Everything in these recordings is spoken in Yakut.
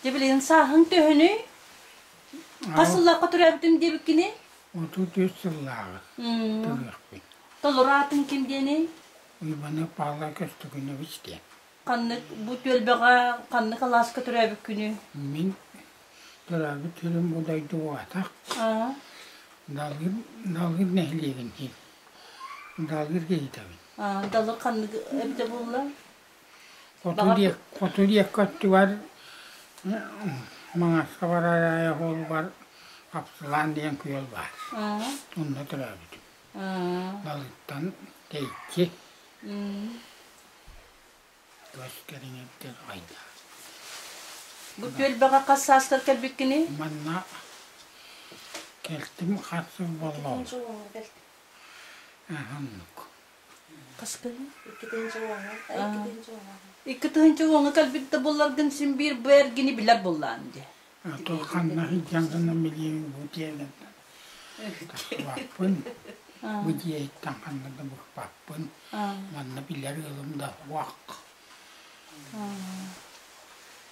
Дьэ билигин сааһыҥ төһөнүй? Хас сыллаахха төрөөбүтүм диэбиккиний? Отут үс сыллааҕы төрүөхпүн. Толору аатын ким диэний? Ивана Павла Костюкинович диэн. Ханнык бу түөлбэҕэ ханнык алааска төрөөбүккүнүй? Мин төрөөбүт тылым бу дойду аатах. Далгыр, Далгыр нэһилиэгин иһин. Далгыр киһитэбин. далыр ханнык эбитэ булла хоту диэккэ өттүгэр маҥаска бараайа оһуолугар апсылаан диэн күөл баар онно төрөөбүтүм далыттан тэйчи көс кэриҥэттэр айда бу күөл баҕа хас саастар кэлбиккиний манна кэлтим харсыр боллоос Оннук. Аспыны иккитинчи уоҥҥа, иккитинчи уоҥҥа. Икки тыһыынча уоҥҥа кэлбит да буолларгын син биир бу эргини билэр буоллаан дии. А то ханна сылдьан гынан билиэҥ бу диэген тутуспаппын. Бу диэттэн ханна да букпаппын. Манна билэр ыалым да уах.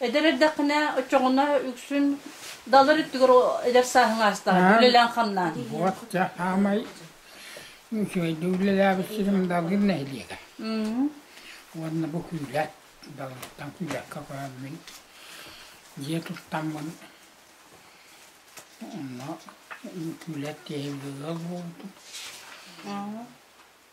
Эдэр эрдэххинэ оччоҕуна үксүн далар өттүгэр эдэр сааһыҥ аастаҕа үлэлээн-хамнаан. Вот саамай үчүгэйдик үлэлээбит сирим Далыр нэһилиэгэ. Уонна бу күүлэт, Далыртан күүлэккэ көрөммүн дьиэ туттаммын онно күүлэт тиэһилигэ буолбутум.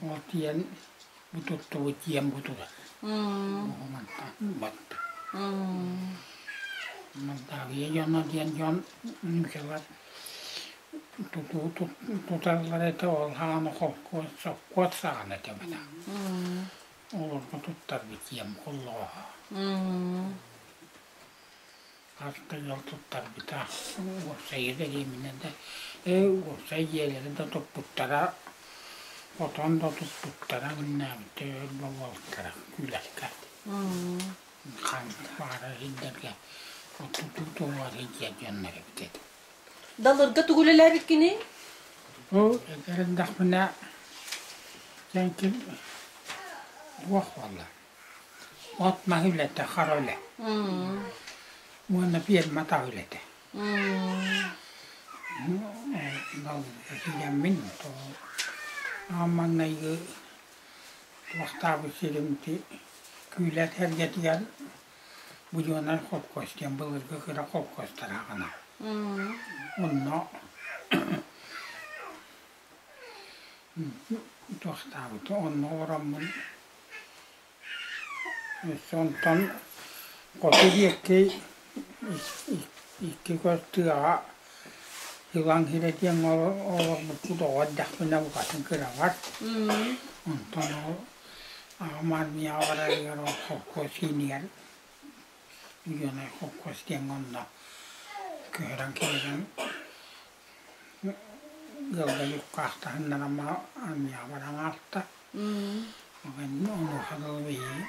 Бутуйан бу туттубут диэн бутуга. Батта. Мантаабыйа дьоно диэн дьон ньүкэлэр туталлар этэ ол хаана холкуот соккуот саҕана этэбэта. Олорго туттарбыт диэн холлоҕо. артыгар туттарбыта. Уопсайга дэриэбинэ да, ээ, уопсай дьиэлэри да туппуттара, отон да туппуттара, мыннаабыта өр да уолтара, үлэкэ. Ханна баара иһиллэргэ оттутуу туругар иһдиэр дьоннор эбит этэ. Далырга тугу үлэлээбит кини? Ол эдэр эрдэхпинэ дьэҥкил туох буолла? От маһы үлэтэ, хара үлэ. Уонна пиэрмэ таа үлэтэ. Бал этилэммин то маҥнайгы туохтаабыт сирим ти күүлэт эргэтигэр будьуонар холкуос диэн былыргы кыра холкуостарааҕына. Онно туохтаабыт онно ороммун Онтон хоту диэки икки көс тыаҕа Ьылаҥ Һирэ диэн олорбуппут оҕо эрдэхпинэ букатын кыраҕар. Онтон ол аҕам армияҕа барарыгар ол холкуос иинигэр Леной холкуос диэн онно көһөрөн кэлэрин Ыалдьан уккаахтаһыннаран маҥа армыйаҕа баран аҕалта. Онуоха дылы биһиги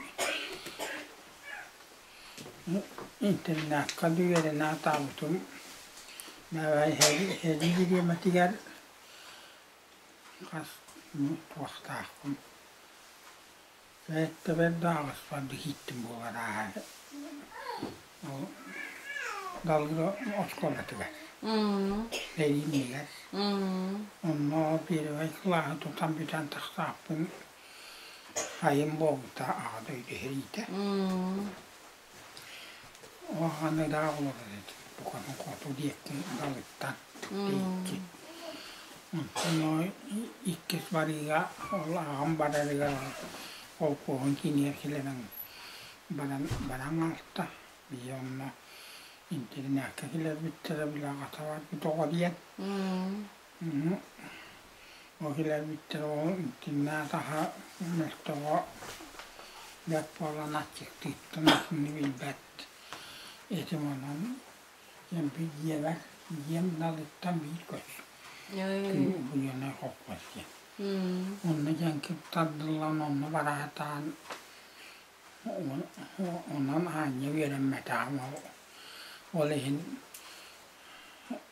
интернакка үөрэнэ атаабытым. Бэбээ иһэлии бириэмэтигэр хас туохтаахпын Бэйэттэбэр да аҕыспарбыт иһиттим буолар ааһар. Ол далга оскуолатыгар. Эриинигэр. Онно первый кылааһы тутан бүтэн тахсааппын сайын буолбута аҕа дойду сэриитэ. Аны да ол буканы хоту диэки далыттан тиийчи. Онно иккис барыыга ол аҕам барарыгар холкуоһун кинигэ килэнэн баран баран ааста. Ийэ онно интиринээккэ кэлэрбиттэрэ били аҕата барбыт оҕо диэн Ол кэлэрбиттэн ол итиннээх аһа мөлтөҕө бэрт буолан аччыктыыттан итини билбэт этим онон эмпи дьиэбэр дьиэм далыттан биир көс кыыл буйанай хоппос диэн онно дьэҥкир тардыллан онно бараатаан онон аанньа үөрэммэтэҕим ол ол иһин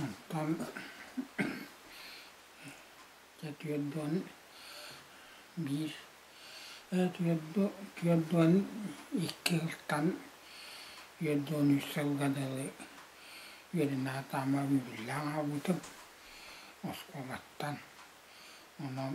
Оттон дьэ түөрдүөн биир ээ түөрдү түөрдүөн икки ылтан үөрдүөн үс сылга дылы үөрэнэ сатааммар мөбүллээн аҕалбытым оскуолаттан онон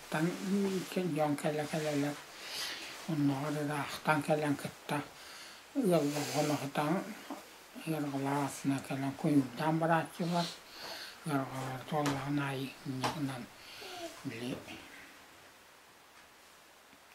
Тан кэлэн кэлэ-кэлэлэр онноҕор ыраахтан кэлэн кытта ыалларҕанаҕытаҥ ыарҕалаасына кэлэн куйуурдаан барааччылар ыарҕалара туоллаҕын аайы инньэ гынан били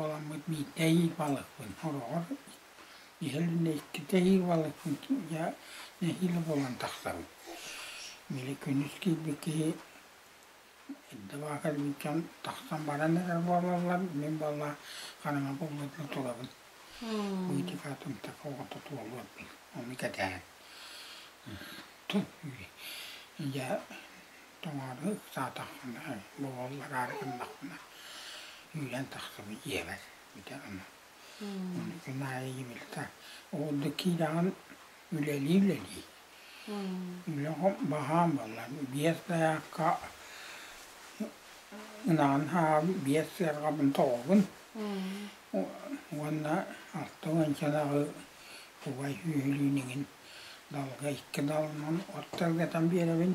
Оҕоммут биирдэ эһии балыкпын ороҕор иһэринэ иккитэ эһии балыкпын дьэ нэһиилэ булан тахсабын. Били күнүс киирбит киһи эрдэ баҕа кэлбит дьон тахсан баран эрэр буолаллар, мин буоллар хараҥа булларга турабын. Витька атымтак оҕото туолуорбун ону кэтэһэн. Дьэ Тоҥоору ыксаатаххына, боҕоллор гыннаххына, үүнэн тахсыбыт ийэбэр бүтэн аны. Күн аайы ийэбилтэ ол да киирэҕин үлэлии-үлэлии. Үлэҕэ баһаам буоллар биэс дайаакка ынаҕын хаһаабын, биэс сыарҕабын тоҕобун уонна алта уончанаҕы кубай сүөһүлүүн иҥин далга икки далынан от тэлгэтэн биэрэбин.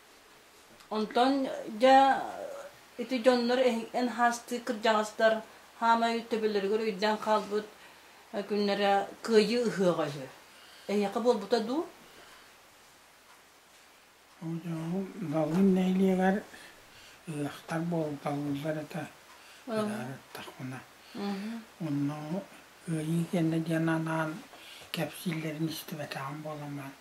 Онтон дьэ ити дьоннор эн хаастыы кырдьаҕастар хаамай төбөлөрүгэр өйдөөн хаалбыт күннэрэ кыайыы ыһыаҕа үһү. Эйиэхэ буолбута дуу? Дьоҥҥум ыалым нэһилиэгэр ыһыахтар буолуталыыллар этэ ыһыктахпына. Онно кыайыы кэннэ диэн анаан кэпсииллэрин истибэтэҕим буолан баран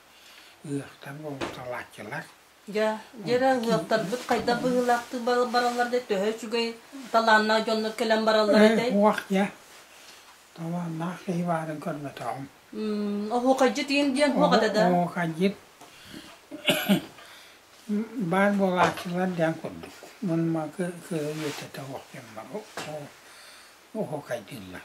ыһыахтар буолуталааччылар. Дьэ, дьэ, ыһыахтарбыт хайдах быһыылаахтык бараллар да, төһө үчүгэй талааннаах дьоннор кэлэн бараллар этэй? Уох, дьэ, талааннаах киһи баарын көрбөтөҕүм. Оһуокайдьыт диэн диэн туох этэ да? Оһуокайдьыт баар буолааччылар диэн курдук. Мунма кыһыйытата уохтеммар оһуокайдыыллар.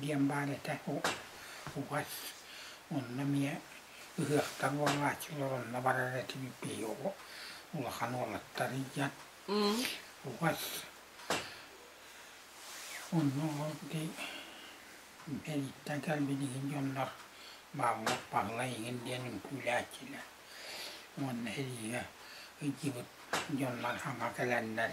диэн баар этэ угас онно эмиэ ыһыахтар буолааччылар онно барар этим биһи улахан уолаттар ийэн угас онно ол ди эриттэн кэлбит иһин дьоннор бааллар Павла иһин диэн үҥкүүлээччилэр уонна эрийэ ыйдьыбыт дьоннор хаҥа кэлэннэр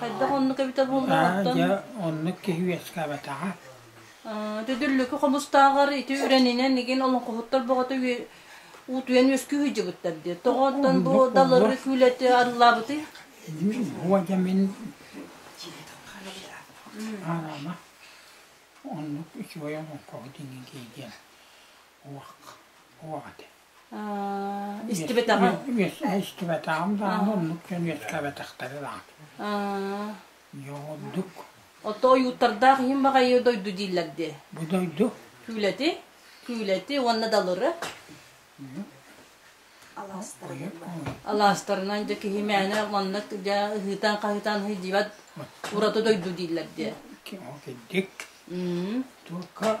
Хайдах оннук эбитэр буоллуҥ Аа, оттон? дьэ, оннук киһи үөскээбэтэҕэ. Э, Төдүллүкү хомустааҕар ити үрэнинэн игин олоҥхоһуттар бөҕөтө үө- уут үөн үөскүү сылдьыбыттар диye. Тоҕо оттон бу Оннук далары буолуо. күүлэти арыллаабытый? Буо дьэ мин дьиэтин харайда. Араама оннук үчүгэй олоҥхоһут иннин киһи диэн уох уох этэ. истибэтэҕим истибэтэҕим даҕаны оннук дьон үөскэбэтэхтэрэ даҕаны Йоҕурдук Ото ойууттардаах иһин баҕайы дойду дииллэр дии. Бу дойду Түүлэти, түүлэти уонна далыры. Алаастарынан дьэ киһи мээнэ манна дьэ ыһыытан хаһыытан сылдьыбат ураты дойду дииллэр дии. Ким ол киддик. Только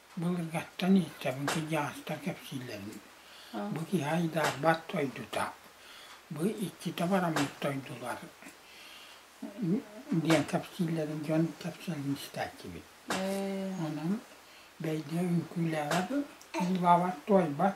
Былыргаттан ииттэбин сыдьаастар кэпсииллэрин. Бу киһи айдаарбат дойдута. Бу иккитэ бараммыт дойдулар диэн кэпсииллэрин дьон кэпсэлин истээччибит. Онон бэйдиэ үҥкүүлээҕэ кыылбаабат туойбат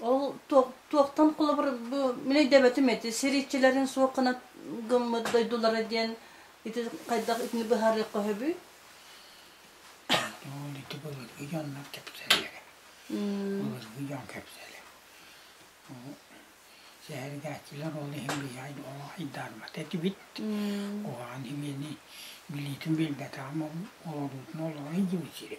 Ол туохтан холобур бу мин өйдөөбөтүм эти сирииччилэрин суох гына гыммыт дойдулара диэн ити хайдах итини быһаарыахха сөбүй? Ол ити былыргы дьоннор кэпсэллэрэ. Былыргы дьон кэпсэлэ. Сэһэргээччилэр ол иһин биһиэхэ ол айдаарбат этибит. Куһаҕан имиэни билиитин билбэтэҕим ол олоруутун олоро иһдибит сири.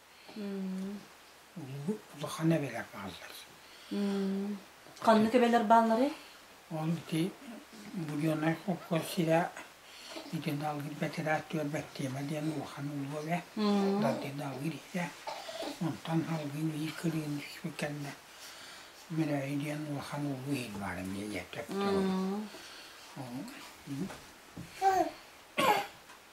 улахан эбэлэр бааллар. Ханнык эбэлэр баалларый? Ол ити Буренай холкуо сирэ ити далгыр бэтират түөрбэт тема диэн улахан улуу эбэ. Далгы далгыр ийэ. Онтон халгын биир кырыын түспүт кэннэ Мүрөйү диэн улахан улуу иһин баар эмиэ ийэ төптөҕө.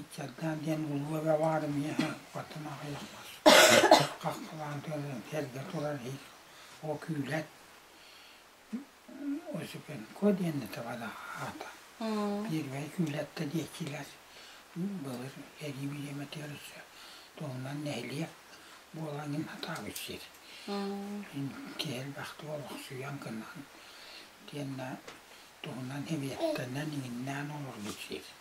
Ыччаттаах диэн улуу эбэ баарын миэхэ оттон аҕыйах хос хаххалаан тыалынан эрдэ турар иһин ол күүлэт Осипенко диэн да табалаах аата первэй күүлэттэ диэччилэр былыр эрии билиэмэтигэр өссө туһунан нэһилиэк буолан иһин атаабыт сир киһи элбэхтик олохсуйан гынан тиэннэ туһунан эбиэттэнэн иҥиннээн олорбут сир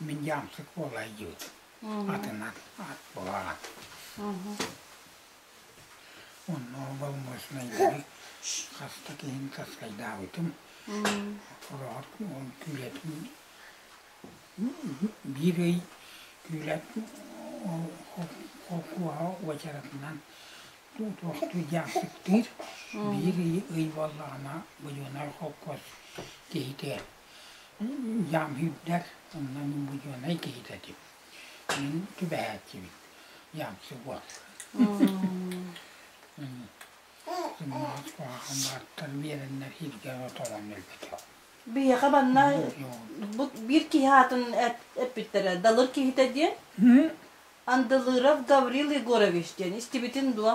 Мин дьаамсык буола илдьибит. Атынан ат буолаҕын. Онно боломуочунайдары хаста киһин таскайдаабытым. Ороһот уон күүлэтин биир ый күүлэт холкуоһа уочаратынан туохтуур дьаамсыктыыр. Биир ый ый буоллаҕына будьуонай холкуос киһитэ Ямһирдэр, онно миллионай киһитэ этим. Мин түбэһээччибит. Ямсыгот. Сымаас куһаҕан баартар биэрэннэр сиргэ оторон өлбөтө. Биһиэхэ манна бу биир киһи аатын эппиттэрэ Далыр киһитэ диэн. Андылыров Гаврил Егорович диэн истибитин дуо?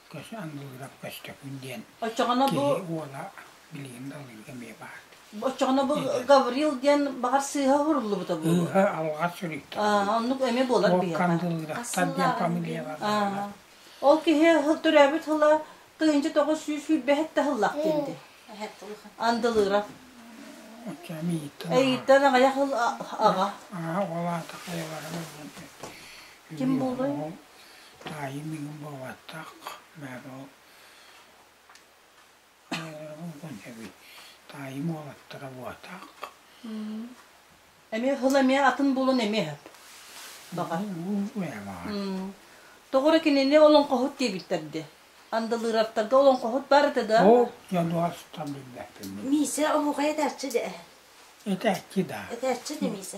көс андылыгар көстөкүн диэн Оччоҕуна бу киһи уола билигин да алыыга эмиэ баар. оччоҕуна бу Гаврил диэн баҕар сыыһа уһуруллубута бу. Ыыһа алҕас суруйтар. Аа, оннук эмиэ буолар Ол биһиэхэ. кандылыктар диэн фамилиялар бааллар. Ол киһи һыл- төрөөбүт тыла тыһыынча тоҕус сүүс сүүрбэһит таһыллах диэн Оо. дии. Андылыров. Оччо эмиэ ииттэн аҕа. Эйиттэн аҕыйах ыл а- аҕа. Аа, ол аата хайалара диэн. Ким буолуой? Ол Таайым миигин буолбатах, бары ол эбит. Таайым уолаттара буотах. Эмиэ хыл эмиэ атын булун эмиэ сөп. Баҕа. Тоҕура кинини олоҥхоһут диэбиттэр де. Андалыыраптарга олоҥхоһут бар этэ да. Ол дьонуоста билбэппин. Миисэ оһуохай этээччи де. Этээччи да. Этээччи де Миисэ.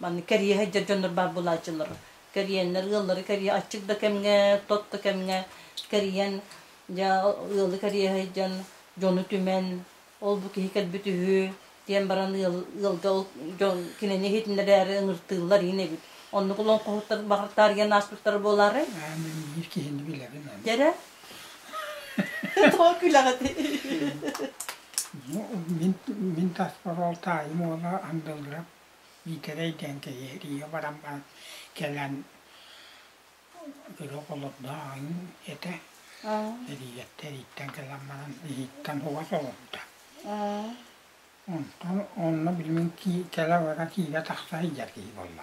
Маннык кэрийэ сылдьар дьоннор баар буолааччылар. Кэрийэннэр ыаллары кэрийэ аччык да кэмҥэ, тот да кэмҥэ кэрийэн, дьэ, ыалы кэрийэ сылдьан, дьону түмэн, ол-бу киһи кэлбит үһү, диэн баран ыал ыалга ол дьон кинини иһитиннэрэри ыҥыртыыллар ин эбит. Оннук олоҥхоһуттар баҕар таарыйан ааспыттара буолаарай? Эн эн биир киһини билэбин эн. Дьэрэ? Тоҕо күлэҕитий? Ну, мин, мин таспар ол таайым уола Андылыап Миитэрэй диэн киһи эрийэ баран баран кэлэн күрүөх олордооҕун этэ. Эрийэттэ эрийиттэн кэлэн баран иһиттэн угас олорбута. Онтон онно билмин кэлэ бара киирэ тахса иһдэр киһи буолла.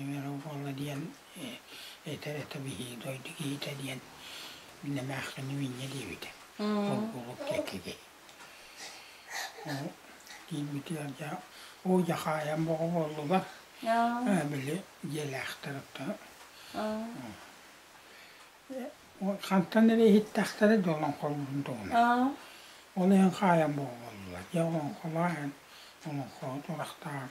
Иҥэрэ буолла диэн этэ-этэ биһии дойду киһитэ диэн эмээхсини минньэ диэбитэ. Ол курдук диэкиги. Киирбитигэр дьэ уу дьахаайан боҕуоллулар. Били дьиэлээхтэр хантан эрэ иһиттэхтэрэ дьэ олоҥхолуурун туһунан. Ол иһин хаайан боҕуоллулар. Дьэ олоҥхолоох иһин олоҥхо турахтаах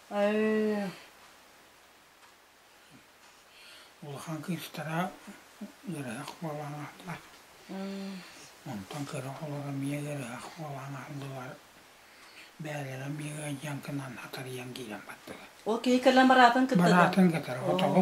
Улахан кыыстара ыарыһах буолан аһыллар. Онтон кыра оҕолоро эмиэ ыарыһах буолан аһыллыбар. Бээлэрэ эмиэ ыалдьан гынан хатарыйан киирэн бардылар. Ол киһи кэлэн бараатын кыттыга? Бараатын кытара хотоҕо.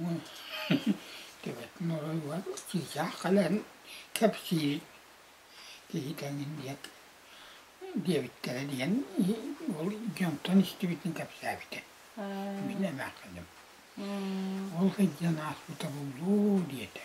уон төбөтүн оройугар учуутаах кэлэн кэпсиир киһи тэҥин диэк диэбиттэрэ диэн ол дьонтон истибитин кэпсээбитэ мин эмээхсиним ол сылдьан ааспыта буллуу диэтэ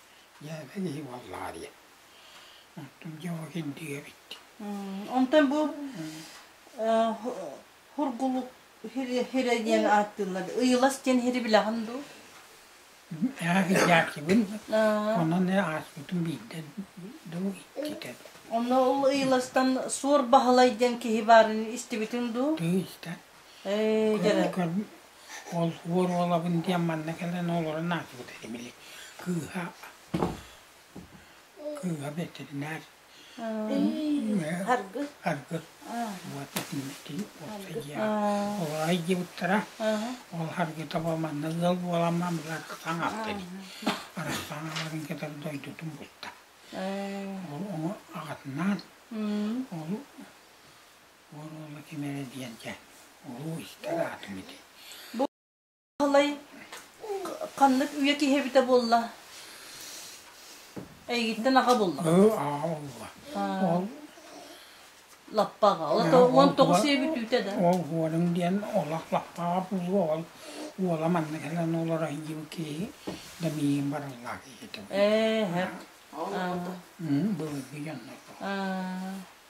Дьээбэ киһи буоллаҕа диэн. Оттон Дьоҕокин диэбиттик. Онтон бу Хургулук Хирэ диэн ааттыыллар. Ыйылас диэн Хири билэҕин дуу? Дьаачыбын. Онон ааспытын биирдэ дуу иккитэ. Онно ол Ыйыластан Суор Баһылай диэн киһи баарын истибитиҥ дуу? Дуу истэн. Ээ, Ол дьара. күн ол уор уолабын диэн манна кэлэн олорон аатырбыт этэ били. Кыыһа, кыыһа бэтэринээр. Аргы. Аргы. Уота тиммитин уота диэн. Ол айдьыбыттара. Ол аргы таба манна ыал буолама былар хатаң аатта дии. Арахтаан аларын кытары дойдутун булта. Ол оҥо аҕатынаан ол Уон уома ким эрэ диэтэ, улуу истэр аатым ити. Бу Баһылай ханнык үйэ киһи эбитэ буолла? Эйигиттэн аҕа булла. Ыы, аҕа улла. Ол лаппаҕа. Ол это уон тоҕус үйэ бүтүүтэ да. Ол уолум диэн олох лаппаҕа буолуо. Ол уола манна кэлэн уларайдым киһи да миигин барылла киһитэ. Ээ, һэк. Былыргы дьоннор. Аа.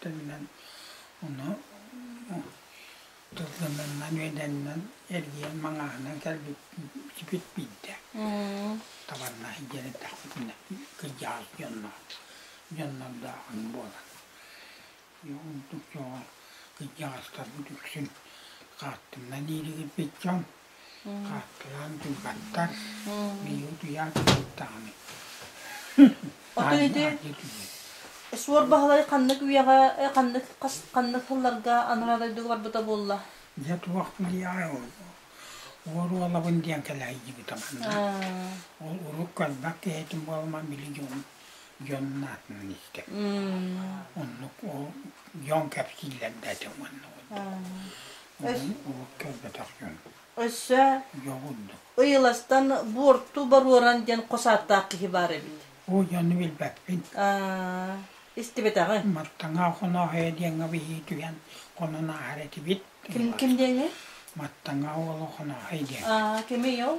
тылынан ону тылынан үөдэннэн эргийэн маҥааһынан кэлбит биирдэ табарнаах дьиэн эттэхпитинэ кырдьаҕас дьонноох дьоннордооҕун буолан ордук дьоҕо кырдьаҕастарбыт үксүн хаартыннан ииригирбит дьон Хааккыраан тыыбаттар, миигин утуйаат тыыддаҕым икки. Ото ити Аанньа түһүөн. Суор Баһылай ханнык үйэҕэ, э, ханнык хас- ханнык сылларга анараа дойдуга барбыта буолла? Дьэ туох билиэҕэй ол уор уолабын диэн кэлэһийдибитэ манна. Э, Ол урут көрбөт киһитин буолуман били дьон дьонун аатынан истэ. Оннук ол дьон кэпсииллэрбээтэ оннук. Ол көрбөтөх дьон. Өссө Дьоҕурдук. Ыйыластан буорту боруоран диэн хос ааттаах киһи баар эбит. Бу дьону билбэппин. Истибэтэҕи. Маттаҥа хоноһойо диэҥҥэ биһии түһэн хонон ааһар этибит. Ким ким диэҥҥэ? Маттаҥа уолу хоноһой диэн. Кимий ол?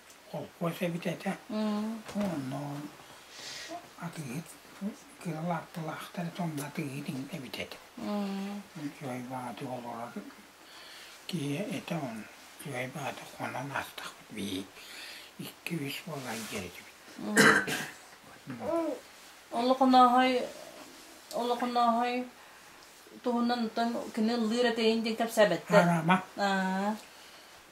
холкуос эбит этэ. Онно атыыһыт кыра лапталаахтар это онно атыыһыт эбит этэ. Үчүгэй баҕаты олорор киһи этэ он үчүгэй баҕаты хонон астахпыт бии икки-үс буолан дьэритибит. Олохонооһой олохонооһой туһунан тон кини ыллыыр этэйин диэн кэпсээбэттэр. Карама. Аа.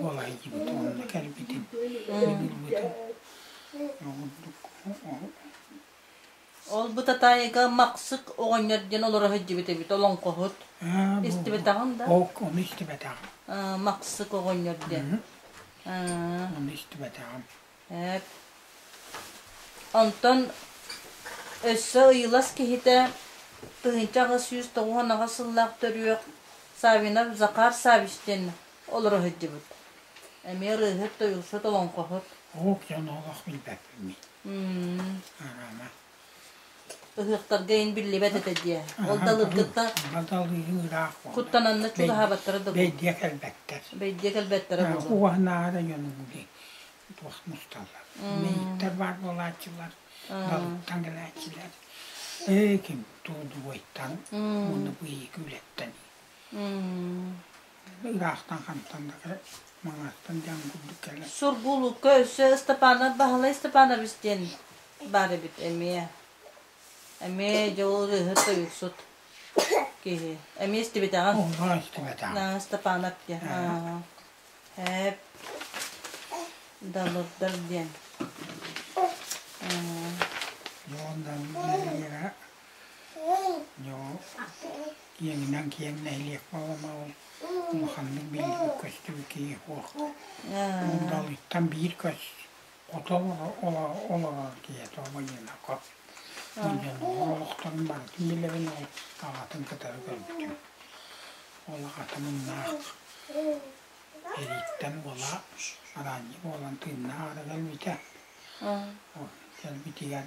Буолайдыбыт уонна кэлбитим. Кэлбитим. Оҕурдук Ол-бу Татаайыга Махсык оҕонньор диэн олоро сылдьыбыт эбит олоҥхоһут. Истибэтэҕиҥ да? Ол ону истибэтэҕим. Махсык оҕонньор диэн. Ону истибэтэҕим. Эп. Онтон өссө ыйылас киһитэ тыһыынча аҕыс сүүс тоҕуһун аҕыс сыллаах төрүөх Савинов Захар Савич диэн олоро сылдьыбыт. Эмиэ ырыаһыт, тойуксут, олоҥхоһут. Уһук дьон олох билбэппин. М. Араама. Ыһыахтарга ин биллибэт этэ дии. Ол далыргыта куттананна чугаһаабаттара да бэйдиэ кэлбэттэр. Бэйдиэ кэлбэттэрэ буолар. Уоһнаара дьонугули туох мусталлар. Мэйиттэр бар буолааччылар, далыттан кэлээччилэр. Ээ ким туудугуйтан, уну быйыгы үлэттэн. ыраахтан-хантан да маҥаһыттан диэн курдук кэлэ. Сургуулукка өссө Ыстапаанап Баһылай Ыстапаанабыс диэн баар эбит эмиэ. Эмиэ дьэ ол ырыаһыт тойуксут киһи. Эмиэ истибэтэҕэ. Оҕо истибэтэҕэ. Ыстапаанап диэн. Һээп. Далырдар диэн. Дьондан иэнинэн киэҥ нэһилиэк буоламаҕын улаханнык билиибит көстүбүт киһи суох далыттан биир көс хото олорор киһи тобониына кот дьон олохторун барытын билэбин ол аҕатын кытары көрбүтүм ол аҕата муннаах эрииттэн буола араанньы буолан тыыннаах ара кэлбитэ кэлбитигэр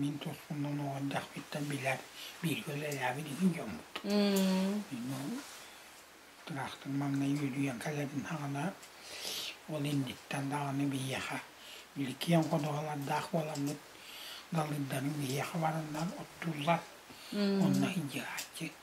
Мин тосхуннан оҕордахпыттан билэр бииргэ үлэлээбит иһин дьоммут. Тыраахтын маҥнай үөдүйэн кэлэбин хаҕана ол инниттэн даҕаны биһиэхэ били киэҥ ходуһалардаах буоламмыт далыйданы биһиэхэ бараннар оттууллар. Онно индигааччы